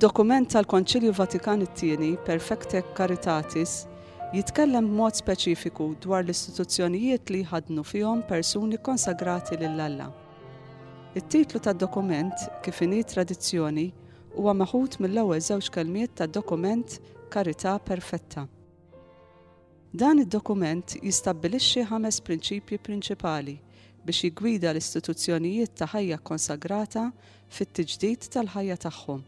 Id-dokument tal-Konċilju Vatikan it-Tieni, Perfecte Caritatis, jitkellem b'mod speċifiku dwar l-istituzzjonijiet li jħaddnu fihom persuni kkonsagrati lil Alla. It-titlu tad-dokument, kif inhi tradizzjoni, huwa meħud mill-ewwel żewġ kelmiet tad-dokument Carità Perfetta. Dan id-dokument jistabbilixxi ħames prinċipji prinċipali biex jiggwida l-istituzzjonijiet ta' ħajja kkonsagrata fit-tiġdid tal-ħajja tagħhom.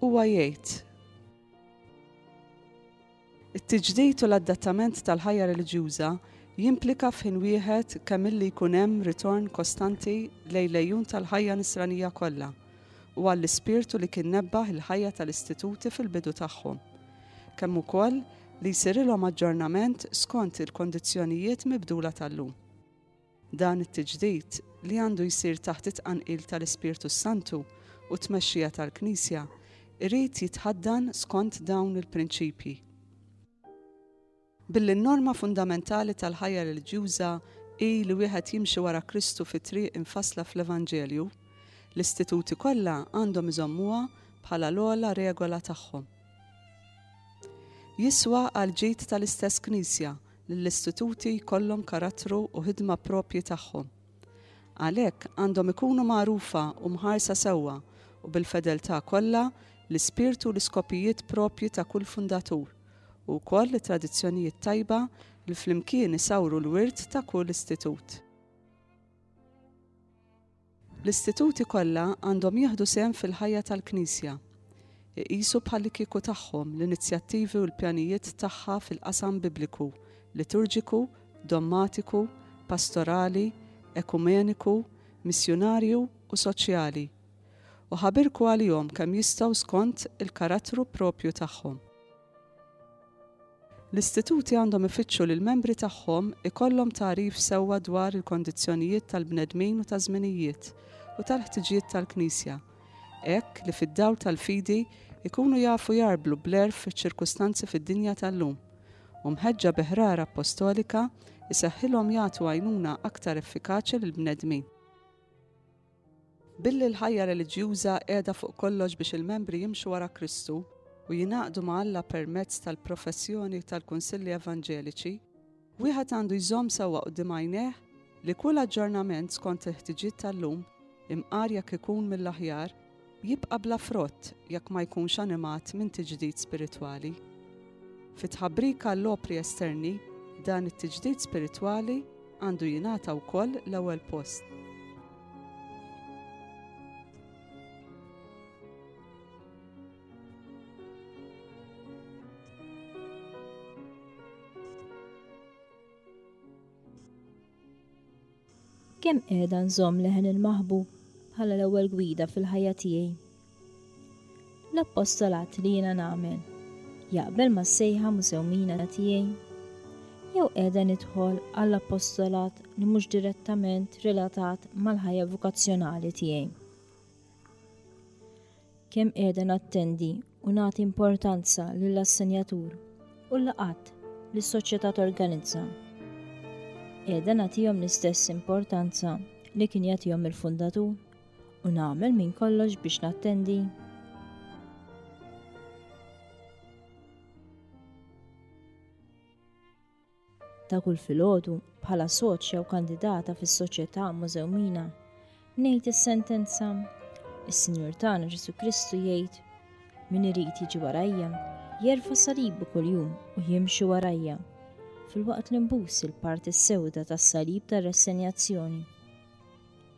Huwa jgħid, It-tiġdid u l-adattament tal-ħajja reliġjuża jimplika f'ħin wieħed kemm illi jkun hemm ritorn kostanti lejn l-għejun tal-ħajja Nisranija kollha u għall-ispirtu li kien nebbaħ il-ħajja tal-istituti fil-bidu tagħhom, kemm ukoll li jsirilhom aġġornament skont il-kondizzjonijiet mibdula tal-lum. Dan it-tiġdid, li għandu jsir taħt it-tqanqil tal-Ispirtu s-Santu u t-tmexxija tal-Knisja, irid jitħaddan skont dawn il-prinċipji. Billi n-norma fundamentali tal-ħajja reliġjuża hi li wieħed jimxi wara Kristu fit-triq imfassla fl-Evanġelju, l-istituti kollha għandhom iżommuha bħala l-ogħla regola tagħhom. Jiswa għall-ġid tal-istess Knisja li l-istituti jkollhom karattru u ħidma proprji tagħhom. Għalhekk, għandhom ikunu magħrufa u mħarsa sewwa u bil-fedeltà kollha l-ispirtu u l-iskopijiet proprji ta' kull fundatur, u wkoll it-tradizzjonijiet tajba li flimkien isawru l-wirt ta' kull istitut. L-istituti kollha għandhom jieħdu sehem fil-ħajja tal-Knisja, iqisu bħallikieku tagħhom l-inizjattivi u l-pjanijiet tagħha fil-qasam Bibliku, Liturġiku, Dommatiku, Pastorali, Ekumeniku, Missjunarju u Soċjali, u ħabirku għalihom kemm jistgħu skont il-karattru proprju tagħhom. L-istituti għandhom ifittxu li l-membri tagħhom ikollhom tagħrif sewwa dwar il-kondizzjonijiet tal-bnedmin u taż-żminijiet u tal-ħtiġijiet tal-Knisja, hekk li fid-dawl tal-fidi jkunu jafu jgħarblu bl-għerf iċ-ċirkustanzi fid-dinja tal-lum, u mħeġġa bi ħrara appostolika, iseħħilhom jagħtu għajnuna aktar effikaċi lill-bnedmin. Billi l-ħajja reliġjuża qiegħda fuq kollox biex il-membri jimxu wara Kristu u jingħaqdu ma' Alla permezz tal-professjoni tal-kunsilli evanġeliċi, wieħed għandu jżomm sewwa quddiem għajnejh li kull aġġornament skont il-ħtiġiet tal-lum, imqar jekk ikun mill-aħjar, jibqa' bla frott jekk ma jkunx animat minn tiġdid spiritwali. Fi tħabbrik għall-opri esterni, dan it-tiġdid spiritwali għandu jingħata wkoll l-ewwel post. Kemm qiegħda nżomm leħen il-Maħbub bħala l-ewwel gwida fil-ħajja tiegħi? L-appostolat li jiena nagħmel jaqbel mas-sejħa musewmina tiegħi? Jew qiegħda nidħol għall-appostolat li mhux direttament relatat mal-ħajja vokazzjonali tiegħi? Kemm qiegħda nattendi u nagħti importanza lill-assenjatur u l-laqgħat li s-Soċjetà torganizza. Qiegħda nagħtihom l-istess importanza li kien jagħtihom il-fundatur u nagħmel minn kollox biex nattendi. Ta' kull filgħodu, bħala soċja u kandidata fis-Soċjetà Mużew Mina, ngħid is-sentenza, Is-Sinjur tagħna Ġesù Kristu jgħid, Min irid jiġi warajja, jerfa' salibu kuljum u jimxi warajja, filwaqt li nbus il-parti s-sewda tas-salib tar-rassenjazzjoni.